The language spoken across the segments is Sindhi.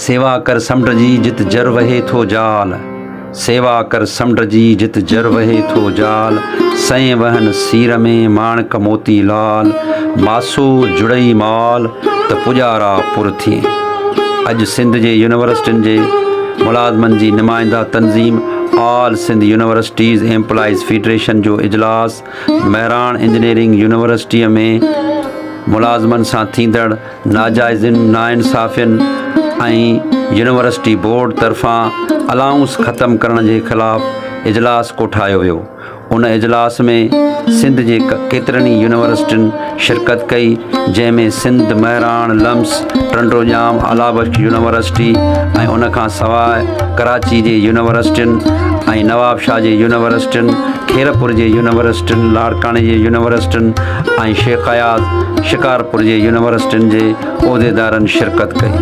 سيوا ڪر سمنڊ جي جت جر وهي ٿو جال سيوا ڪر سمنڊ جي جت جر وهي ٿو جال سئين وهن سير ۾ ماڻڪ موتي لال ماسو جڙئي مال ته پڄارا پر ٿئي اڄ سنڌ جي يونيورسٽين جي ملازمن جي نمائنده تنظيم all Sindh universities employees federation جو اجلاس مهراڻ انجنيئرنگ يونيورسٽيء ۾ ملازمن سان ٿيندڙ ناجائزين، ناانصافين ۽ يونيورسٽي بورڊ طرفان الائونس ختم ڪرڻ جي خلاف اجلاس ڪوٺايو ويو، ان اجلاس ۾ سنڌ جي ڪيترن ئي يونيورسٽين شرڪت ڪئي جنهن ۾ سنڌ، مهراڻ، لمس، ٽنڊوڄام، آلابخش يونيورسٽي ۽ ان کان سواء ڪراچي جي يونيورسٽين ۽ نوابشاهه جي يونيورسٽين، خيرپور جي يونيورسٽين، لاڙڪاڻي جي يونيورسٽين، ۽ شيخ اياز شڪارپور جي يونيورسٽين جي عهديدارن شرڪت ڪئي.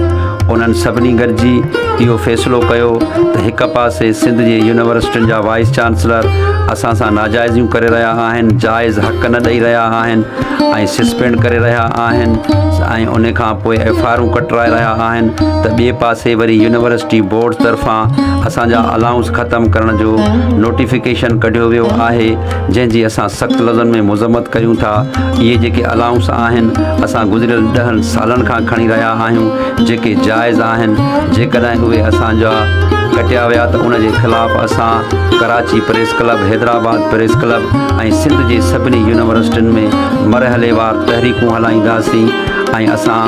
انهن سڀني گڏجي اهو فيصلو ڪيو ته هڪ پاسي سنڌ جي يونيورسٽين جا وائيس چانسلر اسان سان ناجائزيون ڪري رهيا آهن، جائز حق نه ڏئي رهيا آهن ۽ سسپينڊ ڪري رهيا آهن ۽ ان کان پوء ايف آء آرون ڪٽرائي رهيا آهن ته ٻئي پاسي وري يونيورسٽي بورڊ طرفان اسان جا الائونس ختم ڪرڻ جو نوٽيفڪيشن ڪڍيو ويو آهي. جنهن جي اسان سخت لفظن ۾ مذمت ڪريون ٿا اهي جيڪي الائونس آهن اسان گذريل ڏهن سالن کان کڻي رهيا آهيون جيڪي جائز آهن جيڪڏهن اهي اسان جا ڪٽيا ويا ته ان جي خلاف اسان Karachi press club Hyderabad press club ۽ Sindh جي سڀني يونيورسٽين ۾ مرحلي وار تحريڪون هلائينداسين ۽ اسان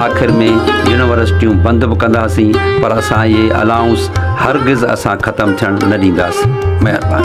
آخر ۾ يونيورسٽيون بند به ڪنداسين پر اسان اهي الائونس هرگز اسان ختم ٿيڻ نه ڏينداسين مهرباني